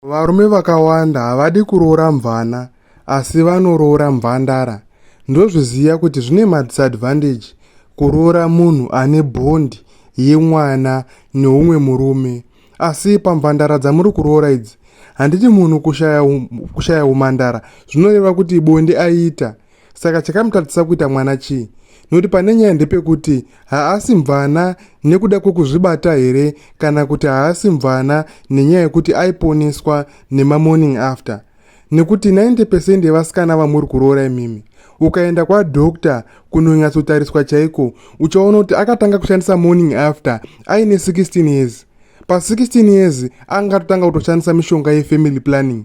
Varume vakawanda havadi kuroora mvana asi vanoroora mvandara ndozviziva kuti zvine madisadvantage kuroora munhu ane bond yemwana neumwe murume asi pamvandara dzamuri kuroora idzi handiti munhu kushaya um, kushaya umandara zvinoreva kuti bonde aita saka chakamutadzisa kuita mwana chii nokuti pane nyaya ndepekuti haasi mvana nekuda kwekuzvibata here kana kuti haasi mvana nenyaya yekuti aiponeswa nemamorning after nekuti 90 pecent yevasikana vamuri kuroora imimi ukaenda kwadokta kunonyatsotariswa chaiko uchaona kuti akatanga kushandisa morning after aine 16 years pa 16 years angatotanga kutoshandisa mishonga yefamily planning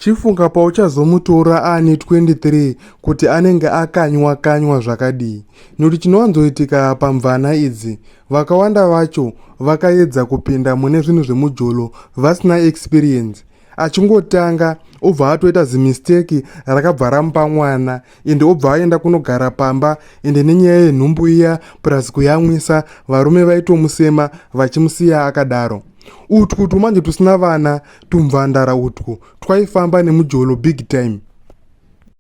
Chifunga pauchazomutora aane 23 kuti anenge akanywa kanywa zvakadii. Nekuti chinowanzoitika pamvana idzi, vakawanda vacho vakaedza kupinda mune zvinhu zvemujolo vasina experience. Achingotanga obva atoita zimisteki rakabva ramupa mwana ende obva aenda kunogara pamba ende nenyaya yenhumbu iya plus kuyamwisa varume vaitomusema vachimusiya akadaro. Utwu twumanje twusina vana Tumvandara utwo twaifamba nemujolo big time.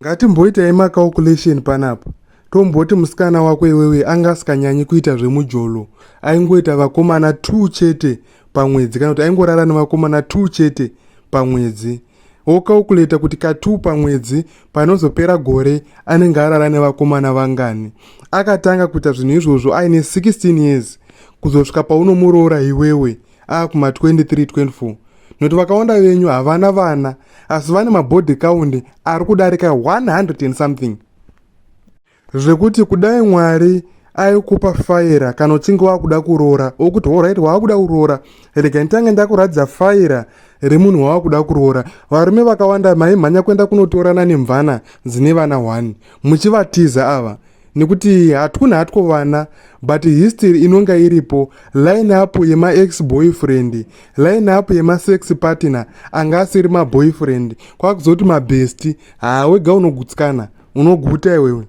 Ngatimboitai macalculation panapa. Tomboti musikana wako iwewe anga asikanyanyi kuita zvemujolo. Aingoita vakomana 2 chete pamwedzi kana kuti aingorara nevakomana 2 chete pamwedzi. Wocalculate kuti ka 2 pamwedzi panozopera gore anenge arara nevakomana vangani. Akatanga kuita zvinhu izvozvo aine 16 years kuzosvika paunomuroora iwewe. akuma ah, 23 24 nokuti vakawanda venyu havana vana asi vane mabody count ari kudarika 100 and something zvekuti kudai mwari aikupa faira kana uchinge wakuda kuroora okuti horit waakuda kuroora rega nditange ndakuratidza faira remunhu waakuda kuroora varume vakawanda maimhanya kuenda kunotorana nemvana dzine vana 1 muchivatiza ava nekuti hatkuna hatwo vana but history inonga iripo line up yema ex boyfriend line up yema sex partner anga asiri ma boyfriend kwakuzoti ma best haa wega unogutsikana unoguta iwewe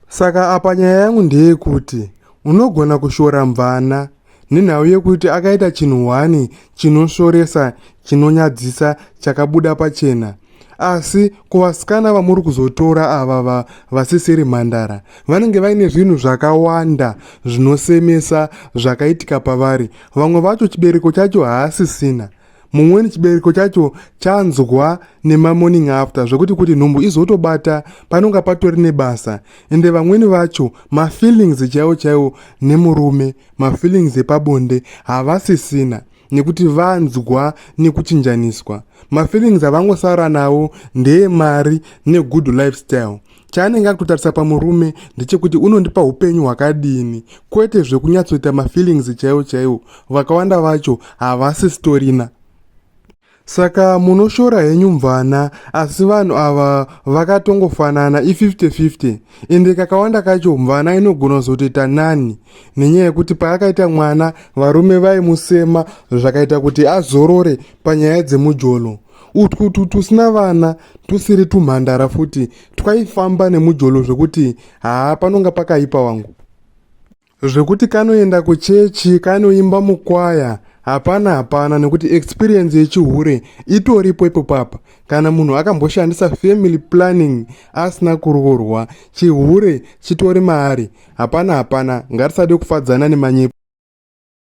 saka apa nyaya yangu ndeyekuti Unogona kushora mvana nenhau yekuti akaita chinhu hwani chinosvoresa, chinonyadzisa, chakabuda pachena. Asi kuvasikana vamuri kuzotora ava va, vasisiri mhandara, vanenge vaine zvinhu zvakawanda zvinosemesa zvakaitika pavari. Vamwe vacho chibereko chacho haasisina. mumweni chibereko chacho chanzwa nemamorning after zvekuti kuti nhumbu izotobata panonga patori nebasa ende vamweni vacho mafeelings chaiwo chaiwo nemurume mafeelings epabonde havasisina nekuti vanzwa nekuchinjaniswa mafeelings avangosara nawo ndeemari negood lifestyle chaanenge akutotarisa pamurume ndechekuti unondipa upenyu hwakadini kwete zvekunyatsoita mafeelings chaiwo chaiwo vakawanda vacho havasi sitorina saka munoshora henyu mvana asi vanhu ava vakatongofanana i5050 ende kakawanda kacho mvana inogona kuzotoita nani nenyaya yekuti paakaita mwana varume vaimusema zvakaita kuti azorore panyaya dzemujolo utwu utwu twusina vana twusiri twumhandara futi twaifamba nemujolo zvekuti haa panonga pakaipa wangu zvekuti kanoenda kuchechi kanoimba mukwaya hapana hapana nekuti experience yechihure itoripo ipo papa kana munhu akamboshandisa family planning asina kuroorwa chihure chitori maari hapana hapana ngatisade kufadzana nemanyepo